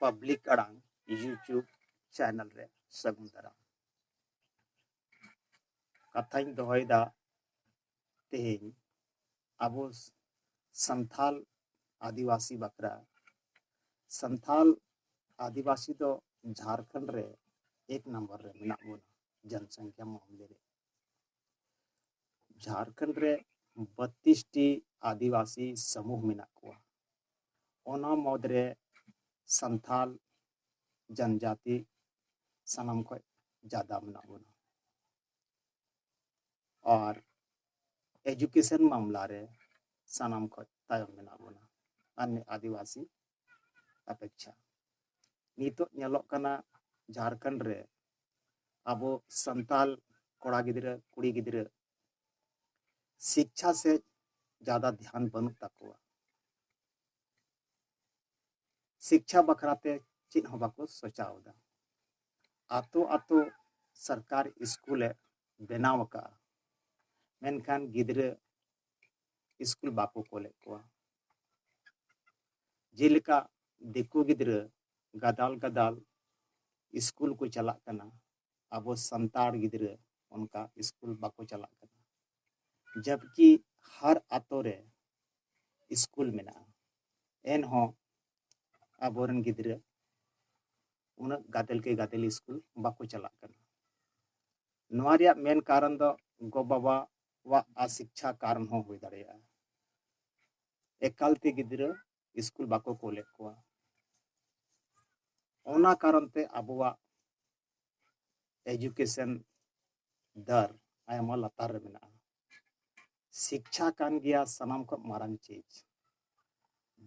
public ᱟᱲᱟᱝ YouTube channel ᱨᱮ ᱥᱟᱹᱜᱩᱱ ᱫᱟᱨᱟᱢ ᱠᱟᱛᱷᱟᱧ ᱫᱚᱦᱚᱭᱮᱫᱟ ᱛᱮᱦᱮᱧ ᱟᱵᱚ ᱥᱟᱱᱛᱷᱟᱞ ᱟᱹᱫᱤᱵᱟᱹᱥᱤ ᱵᱟᱠᱷᱨᱟ ᱥᱟᱱᱛᱷᱟᱞ ᱟᱹᱫᱤᱵᱟᱹᱥᱤ ᱫᱚ ᱡᱷᱟᱲᱠᱷᱚᱸᱰ ᱨᱮ ᱮᱠ ᱱᱟᱢᱵᱟᱨ ᱨᱮ ᱢᱮᱱᱟᱜ ᱵᱚᱱᱟ ᱡᱚᱱᱥᱚᱝᱠᱷᱟ ᱢᱟᱢᱞᱮ ᱨᱮ ᱡᱷᱟᱲᱠᱷᱚᱸᱰ ᱨᱮ ᱵᱚᱛᱛᱤᱥ ᱴᱤ ᱟᱹᱫᱤᱵᱟᱹᱥᱤ ᱥᱚᱢᱩᱦ ᱢᱮᱱᱟᱜ ᱠᱚᱣᱟ ᱚᱱᱟ ᱢᱩᱫᱽ ᱨᱮ ᱥᱟᱱᱛᱷᱟᱞ ᱡᱚᱱᱡᱟᱛᱤ ᱥᱟᱱᱟᱢ ᱠᱷᱚᱱ ᱡᱟᱫᱟ ᱢᱮᱱᱟᱜ ᱵᱚᱱᱟ ᱟᱨ ᱮᱡᱩᱠᱮᱥᱚᱱ ᱢᱟᱢᱞᱟ ᱨᱮ ᱥᱟᱱᱟᱢ ᱠᱷᱚᱱ ᱛᱟᱭᱚᱢ ᱢᱮᱱᱟᱜ ᱵᱚᱱᱟ ᱟᱨ ᱟᱹᱫᱤᱵᱟᱹᱥᱤ ᱟᱯᱮᱠᱪᱷᱟ ᱱᱤᱛᱚᱜ ᱧᱮᱞᱚᱜ ᱠᱟᱱᱟ ᱡᱷᱟᱨᱠᱷᱚᱸᱰ ᱨᱮ ᱟᱵᱚ ᱥᱟᱱᱛᱟᱞ ᱠᱚᱲᱟ ᱜᱤᱫᱽᱨᱟᱹ ᱠᱩᱲᱤ ᱜᱤᱫᱽᱨᱟᱹ ᱥᱤᱠᱪᱷᱟ ᱥᱮᱫ ᱡᱟᱫᱟ ᱫᱷᱮᱭᱟᱱ ᱵᱟᱹᱱᱩᱜ ᱛᱟᱠᱚᱣᱟ ᱥᱤᱠᱪᱷᱟ ᱵᱟᱠᱷᱨᱟᱛᱮ ᱪᱮᱫ ᱦᱚᱸ ᱵᱟᱠᱚ ᱥᱚᱪᱟᱣ ᱮᱫᱟ ᱟᱛᱳ ᱟᱛᱳ ᱥᱚᱨᱠᱟᱨ ᱥᱠᱩᱞᱮ ᱵᱮᱱᱟᱣ ᱟᱠᱟᱫᱼᱟ ᱢᱮᱱᱠᱷᱟᱱ ᱜᱤᱫᱽᱨᱟᱹ ᱥᱠᱩᱞ ᱵᱟᱠᱚ ᱠᱳᱞᱮᱫ ᱠᱚᱣᱟ ᱡᱮᱞᱮᱠᱟ ᱫᱤᱠᱩ ᱜᱤᱫᱽᱨᱟᱹ ᱜᱟᱫᱟᱞ ᱜᱟᱫᱟᱞ ᱥᱠᱩᱞ ᱠᱚ ᱪᱟᱞᱟᱜ ᱠᱟᱱᱟ ᱟᱵᱚ ᱥᱟᱱᱛᱟᱲ ᱜᱤᱫᱽᱨᱟᱹ ᱚᱱᱠᱟ ᱥᱠᱩᱞ ᱵᱟᱠᱚ ᱪᱟᱞᱟᱜ ᱠᱟᱱᱟ ᱡᱟᱵᱠᱤ ᱦᱟᱨ ᱟᱛᱳ ᱨᱮ ᱥᱠᱩᱞ ᱢᱮᱱᱟᱜᱼᱟ ᱮᱱᱦᱚᱸ ᱟᱵᱚᱨᱮᱱ ᱜᱤᱫᱽᱨᱟᱹ ᱩᱱᱟᱹᱜ ᱜᱟᱫᱮᱞ ᱠᱮ ᱜᱟᱫᱮᱞ ᱥᱠᱩᱞ ᱵᱟᱠᱚ ᱪᱟᱞᱟᱜ ᱠᱟᱱᱟ ᱱᱚᱣᱟ ᱨᱮᱭᱟᱜ ᱢᱮᱱ ᱠᱟᱨᱚᱱ ᱫᱚ ᱜᱚ ᱵᱟᱵᱟ ᱠᱚᱣᱟᱜ ᱟᱥᱤᱠᱪᱷᱟ ᱠᱟᱨᱚᱱ ᱦᱚᱸ ᱦᱩᱭ ᱫᱟᱲᱮᱭᱟᱜᱼᱟ ᱮᱠᱟᱞ ᱛᱮ ᱜᱤᱫᱽᱨᱟᱹ ᱥᱠᱩᱞ ᱵᱟᱠᱚ ᱠᱳᱞᱮᱫ ᱠᱚᱣᱟ ᱚᱱᱟ ᱠᱟᱨᱚᱱ ᱛᱮ ᱟᱵᱚᱣᱟᱜ ᱮᱡᱩᱠᱮᱥᱚᱱ ᱫᱟᱨ ᱟᱭᱢᱟ ᱞᱟᱛᱟᱨ ᱨᱮ ᱢᱮᱱᱟᱜᱼᱟ ᱥᱤᱠᱪᱷᱟ ᱠᱟᱱ ᱜᱮᱭᱟ ᱥᱟᱱᱟᱢ ᱠᱷᱚᱱ ᱢᱟᱨᱟᱝ ᱪᱤᱡᱽ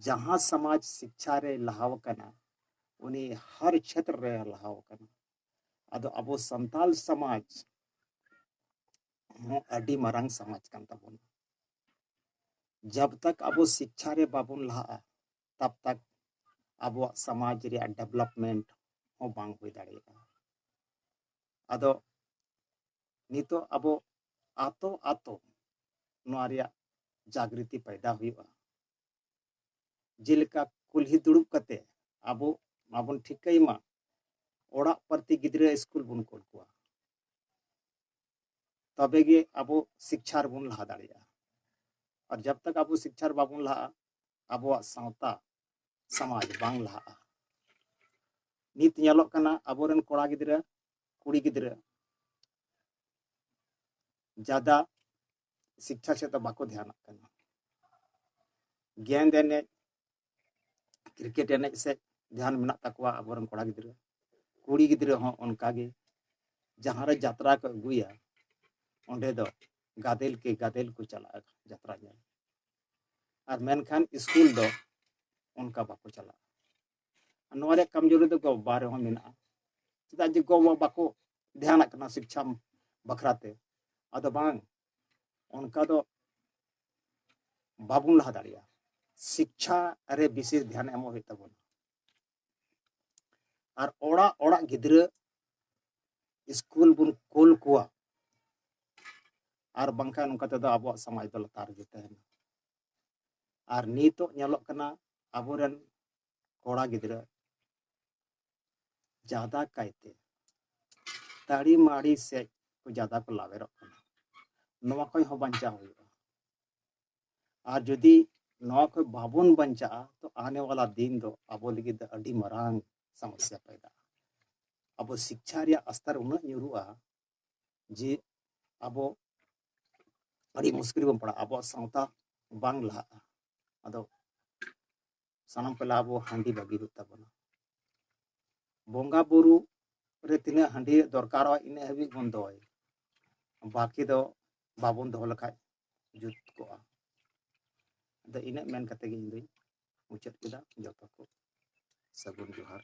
ᱡᱟᱦᱟᱸ ᱥᱚᱢᱟᱡᱽ ᱥᱤᱠᱪᱷᱟ ᱨᱮ ᱞᱟᱦᱟᱣ ᱟᱠᱟᱱᱟ ᱩᱱᱤ ᱦᱟᱨ ᱪᱷᱮᱛᱨᱚ ᱨᱮ ᱞᱟᱦᱟᱣ ᱟᱠᱟᱱᱟ ᱟᱫᱚ ᱟᱵᱚ ᱥᱟᱱᱛᱟᱞ ᱥᱚᱢᱟᱡᱽ ᱦᱚᱸ ᱟᱹᱰᱤ ᱢᱟᱨᱟᱝ ᱥᱚᱢᱟᱡᱽ ᱠᱟᱱ ᱛᱟᱵᱚᱱᱟ ᱡᱟᱵ ᱛᱟᱠ ᱟᱵᱚ ᱥᱤᱠᱠᱷᱟ ᱨᱮ ᱵᱟᱵᱚᱱ ᱞᱟᱦᱟᱜᱼᱟ ᱛᱟᱵ ᱛᱟᱠ ᱟᱵᱚᱣᱟᱜ ᱥᱚᱢᱟᱡᱽ ᱨᱮᱭᱟᱜ ᱰᱮᱵᱷᱞᱚᱯᱢᱮᱱᱴ ᱦᱚᱸ ᱵᱟᱝ ᱦᱩᱭ ᱫᱟᱲᱮᱭᱟᱜᱼᱟ ᱟᱫᱚ ᱱᱤᱛᱚᱜ ᱟᱵᱚ ᱟᱛᱳ ᱟᱛᱳ ᱱᱚᱣᱟ ᱨᱮᱭᱟᱜ ᱡᱟᱜᱨᱤᱛᱤ ᱯᱟᱭᱫᱟ ᱦᱩᱭᱩᱜᱼᱟ ᱡᱮᱞᱮᱠᱟ ᱠᱩᱞᱦᱤ ᱫᱩᱲᱩᱵ ᱠᱟᱛᱮ ᱟᱵᱚ ᱢᱟᱵᱚᱱ ᱴᱷᱤᱠᱟᱹᱭ ᱢᱟ ᱚᱲᱟᱜ ᱯᱨᱚᱛᱤ ᱜᱤᱫᱽᱨᱟᱹ ᱥᱠᱩᱞ ᱵᱚᱱ ᱠᱳᱞ ᱠᱚᱣᱟ ᱛᱚᱵᱮ ᱜᱮ ᱟᱵᱚ ᱥᱤᱠᱪᱷᱟ ᱨᱮᱵᱚᱱ ᱞᱟᱦᱟ ᱫᱟᱲᱮᱭᱟᱜᱼᱟ ᱟᱨ ᱡᱟᱵ ᱛᱟᱠ ᱟᱵᱚ ᱥᱤᱠᱪᱷᱟ ᱨᱮ ᱵᱟᱵᱚᱱ ᱞᱟᱦᱟᱜᱼᱟ ᱟᱵᱚᱣᱟᱜ ᱥᱟᱶᱛᱟ ᱥᱚᱢᱟᱡᱽ ᱵᱟᱝ ᱞᱟᱦᱟᱜᱼᱟ ᱱᱤᱛ ᱧᱮᱞᱚᱜ ᱠᱟᱱᱟ ᱟᱵᱚᱨᱮᱱ ᱠᱚᱲᱟ ᱜᱤᱫᱽᱨᱟᱹ ᱠᱩᱲᱤ ᱜᱤᱫᱽᱨᱟᱹ ᱡᱟᱫᱟ ᱥᱤᱠᱪᱷᱟ ᱥᱮᱫ ᱫᱚ ᱵᱟᱠᱚ ᱫᱷᱮᱭᱟᱱᱟᱜ ᱠᱟᱱᱟ ᱜᱮᱸᱫ ᱮᱱᱮᱡ ᱠᱨᱤᱠᱮᱴ ᱮᱱᱮᱡ ᱥᱮᱫ ᱫᱷᱮᱭᱟᱱ ᱢᱮᱱᱟᱜ ᱛᱟᱠᱚᱣᱟ ᱟᱵᱚᱨᱮᱱ ᱠᱚᱲᱟ ᱜᱤᱫᱽᱨᱟᱹ ᱠᱩᱲᱤ ᱜᱤᱫᱽᱨᱟᱹ ᱦᱚᱸ ᱚᱱᱠᱟᱜᱮ ᱡᱟᱦᱟᱸᱨᱮ ᱡᱟᱛᱨᱟ ᱠᱚ ᱟᱹᱜᱩᱭᱟ ᱚᱸᱰᱮ ᱫᱚ ᱜᱟᱫᱮᱞ ᱠᱮ ᱜᱟᱫᱮᱞ ᱠᱚ ᱪᱟᱞᱟᱜᱼᱟ ᱡᱟᱛᱨᱟ ᱧᱮᱞ ᱟᱨ ᱢᱮᱱᱠᱷᱟᱱ ᱥᱠᱩᱞ ᱫᱚ ᱚᱱᱠᱟ ᱵᱟᱠᱚ ᱪᱟᱞᱟᱜᱼᱟ ᱱᱚᱣᱟ ᱨᱮᱭᱟᱜ ᱠᱟᱢᱡᱳᱨᱤ ᱫᱚ ᱜᱚ ᱵᱟᱵᱟ ᱨᱮᱦᱚᱸ ᱢᱮᱱᱟᱜᱼᱟ ᱪᱮᱫᱟᱜ ᱡᱮ ᱜᱚ ᱵᱟᱵᱟ ᱵᱟᱠᱚ ᱫᱷᱮᱭᱟᱱᱟᱜ ᱠᱟᱱᱟ ᱥᱤᱠᱪᱷᱟ ᱵᱟᱠᱷᱨᱟᱛᱮ ᱟᱫᱚ ᱵᱟᱝ ᱚᱱᱠᱟ ᱫᱚ ᱵᱟᱵᱚᱱ ᱞᱟᱦᱟ ᱫᱟᱲᱮᱭᱟᱜᱼᱟ ᱥᱤᱠᱪᱷᱟ ᱨᱮ ᱵᱤᱥᱮᱥ ᱫᱷᱮᱭᱟᱱ ᱮᱢᱚᱜ ᱦᱩᱭᱩᱜ ᱛᱟᱵᱚᱱᱟ ᱟᱨ ᱚᱲᱟᱜ ᱚᱲᱟᱜ ᱜᱤᱫᱽᱨᱟᱹ ᱥᱠᱩᱞ ᱵᱚᱱ ᱠᱳᱞ ᱠᱚᱣᱟ ᱟᱨ ᱵᱟᱝᱠᱷᱟᱱ ᱱᱚᱝᱠᱟ ᱛᱮᱫᱚ ᱟᱵᱚᱣᱟᱜ ᱥᱚᱢᱟᱡᱽ ᱫᱚ ᱞᱟᱛᱟᱨ ᱜᱮ ᱛᱟᱦᱮᱱᱟ ᱟᱨ ᱱᱤᱛᱚᱜ ᱧᱮᱞᱚᱜ ᱠᱟᱱᱟ ᱟᱵᱚᱨᱮᱱ ᱠᱚᱲᱟ ᱜᱤᱫᱽᱨᱟᱹ ᱡᱟᱫᱟ ᱠᱟᱭᱛᱮ ᱛᱟᱹᱲᱤ ᱢᱟᱹᱲᱤ ᱥᱮᱡ ᱠᱚ ᱡᱟᱫᱟ ᱠᱚ ᱞᱟᱣᱮᱨᱚᱜ ᱠᱟᱱᱟ ᱱᱚᱣᱟ ᱠᱷᱚᱱ ᱦᱚᱸ ᱵᱟᱧᱪᱟᱣ ᱦᱩᱭᱩᱜᱼᱟ ᱟᱨ ᱡᱩᱫᱤ ᱱᱚᱣᱟ ᱠᱷᱚᱱ ᱵᱟᱵᱚᱱ ᱵᱟᱧᱪᱟᱜᱼᱟ ᱛᱚ ᱟᱱᱮ ᱣᱟᱞᱟ ᱫᱤᱱ ᱫᱚ ᱟᱵᱚ ᱞᱟᱹᱜᱤᱫ ᱫᱚ ᱟᱹᱰᱤ ᱢᱟᱨᱟᱝ ᱥᱚᱢᱚᱥᱥᱟ ᱯᱟᱭᱫᱟᱜᱼᱟ ᱟᱵᱚ ᱥᱤᱠᱪᱷᱟ ᱨᱮᱭᱟᱜ ᱟᱥᱛᱟᱨ ᱩᱱᱟᱹᱜ ᱧᱩᱨᱩᱜᱼᱟ ᱡᱮ ᱟᱵᱚ ᱟᱹᱰᱤ ᱢᱩᱥᱠᱤᱞ ᱵᱚᱱ ᱯᱟᱲᱟᱜᱼᱟ ᱟᱵᱚᱣᱟᱜ ᱥᱟᱶᱛᱟ ᱵᱟᱝ ᱞᱟᱦᱟᱜᱼᱟ ᱟᱫᱚ ᱥᱟᱱᱟᱢ ᱠᱚ ᱞᱟᱦᱟ ᱟᱵᱚ ᱦᱟᱺᱰᱤ ᱵᱟᱹᱜᱤ ᱦᱩᱭᱩᱜ ᱛᱟᱵᱚᱱᱟ ᱵᱚᱸᱜᱟ ᱵᱩᱨᱩ ᱨᱮ ᱛᱤᱱᱟᱹᱜ ᱦᱟᱺᱰᱤ ᱫᱚᱨᱠᱟᱨᱚᱜᱼᱟ ᱤᱱᱟᱹᱜ ᱦᱟᱹᱵᱤᱡ ᱵᱚᱱ ᱫᱚᱦᱚᱭ ᱵᱟᱹᱠᱤ ᱫᱚ ᱵᱟᱵᱚᱱ ᱫᱚᱦᱚ ᱞᱮᱠᱷᱟᱡ ᱡᱩᱛ ᱠᱚᱜᱼᱟ ᱟᱫᱚ ᱤᱱᱟᱹᱜ ᱢᱮᱱ ᱠᱟᱛᱮ ᱜᱮ ᱤᱧ ᱫᱩᱧ ᱢᱩᱪᱟᱹᱫ ᱠᱮᱫᱟ ᱡᱚᱛᱚ ᱠᱚ ᱥᱟᱹᱜᱩᱱ ᱡᱚᱦᱟᱨ